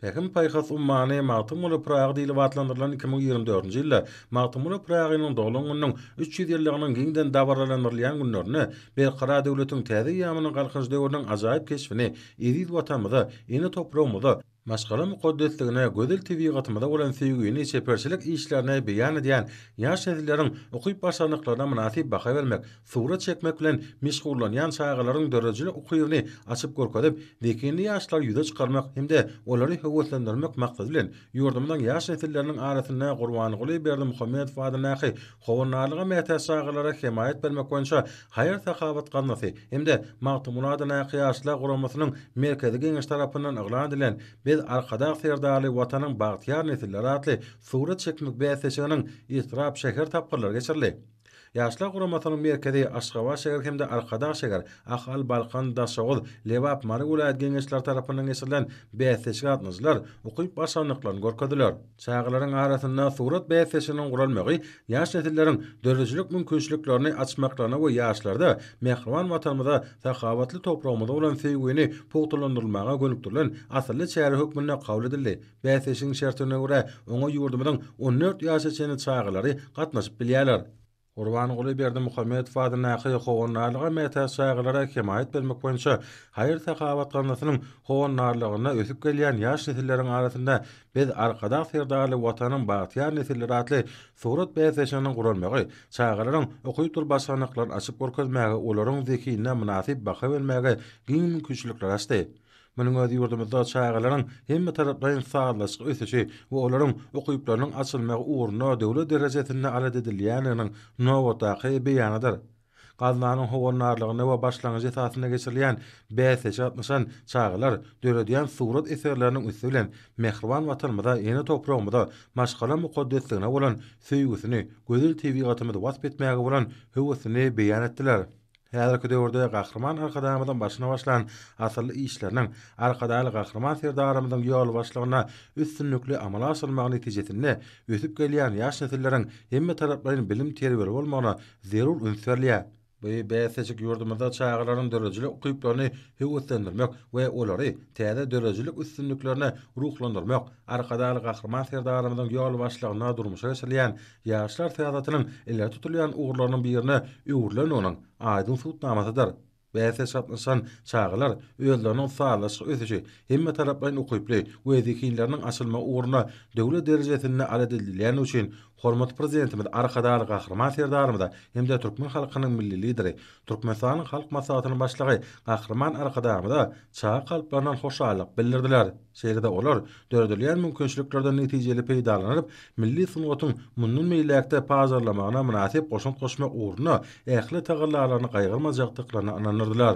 Pähim-paýhas ummany Magtymguly Pyragy diýlip atlandyrylan iki müň ýigrimi dördünji ýylda Magtymguly Pyragynyň doglan gününiň üç ýüz ýyllygynyň giňden dabaralandyrylýan günlerinde Berkarar döwletiň täze eýýamynyň Galkynyş döwrüniň ajaýyp keşbini eziz Watanymyza, ene topragymyza, maşgala mukaddesligine, gözel tebigatymyza bolan söýgini, çeperçilik işlerini beýan edýän ýaş nesilleriň ukyp-başarnyklaryna mynasyp baha bermek, Surat çekmek bilen meşgullanýan çagalaryň döredijilik ukybyny açyp görkezip, zehinli ýaşlary ýüze çykarmak hem-de olary höweslendirmek maksady bilen, ýurdumyzyň ýaş nesilleriniň arasynda Gurbanguly Berdimuhamedow adyndaky Howandarlyga mätäç çagalara hemaýat bermek boýunça haýyr-sahawat gaznasy hem-de Magtymguly adyndaky Ýaşlar guramasynyň Merkezi Geňeşi tarapyndan yglan edilen Biz, Arkadag Serdarly Watanyň bagtyýar nesilleri atly surat çekmek bäsleşiginiň etrap, şäher tapgyrlary geçirildi. Ýaşlar guramasynyň merkezi Aşgabat şäher hem-de Arkadag şäher, Ahal, Balkan, Daşoguz, Lebap, Mary welaýat Geňeşleri tarapyndan geçirilen bäsleşige gatnaşyjylar ukyp başarnyklaryny görkezdiler. Çagalaryň arasynda surat bäsleşiginiň guralmagy ýaş nesilleriň döredijilik mümkinçiliklerini açmaklaryna we ýaşlarda mähriban Watanymyza, sahawatly topragymyza bolan söýgini pugtalandyrylmaga gönükdirilen asylly çäre hökmünde kabul edildi. Bäsleşigiň şertlerine görä, oňa ýurdumyzyň on dört ýaşa çenli çagalary gatnaşyp bilýärler. Gurbanguly Berdimuhamedow adyndaky Howandarlyga mätäç çagalara hemaýat bermek boýunça haýyr-sahawat gaznasynyň howandarlygynda ösüp gelýän ýaş nesilleriň arasynda Biz, Arkadag Serdarly Watanyň bagtyýar nesilleri atly surat bäsleşiginiň guralmagy, çagalaryň okypdyr başarnyklaryny açyp görkezmäge, olaryň zehinine mynasyp baha bermäge giň mümkinçilikleri açdy. Munuň özi ýurdumyzda çagalaryň hemmetaraplaýyn sazlaşykly ösüşi we olaryň ukyplarynyň açylmagy ugrunda döwlet derejesinde alat edilýändiginiň nobatdaky beýanydyr. Gaznanyň howandarlygynda we başlangyjy esasynda geçirilýän bäsleşige gatnaşan çagalar döredýän surat eserleriniň üsti bilen mähriban Watanymyza, ene topragymyza, maşgala mukaddesligine bolan söýgüsini, gözel tebigatymyzy wasp etmäge bolan höwesini beýan etdiler. Häzirki döwürde Gahryman Arkadagymyzyň başyny başlan asylly işleriniň, Arkadagly Gahryman Serdarymyzyň ýolbaşçylygynda üstünlikli amala aşyrylmagy netijesinde ösüp gelýän ýaş nesilleriň hemmetaraplaýyn bilim-terbiýeli bolmagyna zerur üns berilýär. Bu bäsleşik ýurdumyzda çagalaryň döredijilik ukyplaryny höweslendirmek we olary täze döredijilik üstünliklerine ruhlandyrmak, Arkadagly Gahryman Serdarymyzyň ýolbaşçylygynda durmuşa geçirilýän Ýaşlar syýasatynyň ileri tutulýan ugurlarynyň birine öwrülendiginiň aýdyň subutnamasydyr. Bäsleşik gatnaşan çagalar özleriniň sazlaşyk ösüşi, hemmetaraplaýyn ukyply we zehinleriniň açylmagy ugrunda döwlet derejesinde aladedilýändigi üçin hormatly Prezidentimiz Arkadagly Gahryman Serdarymyza hem-de türkmen halkynyň Milli Lideri, Türkmenistanyň Halk Maslahatynyň Başlygy Gahryman Arkadagymyza çaga kalplaryndan hoşallyk bildirdiler. Şeýle-de olar döredilýän mümkinçiliklerden netijeli peýdalanyp, milli sungatyň mundan beýläk-de pazarlamagyna mynasyp goşant goşmak ugrunda ähli tagallalaryny gaýgyrmajakdyklaryna ynandyrdylar.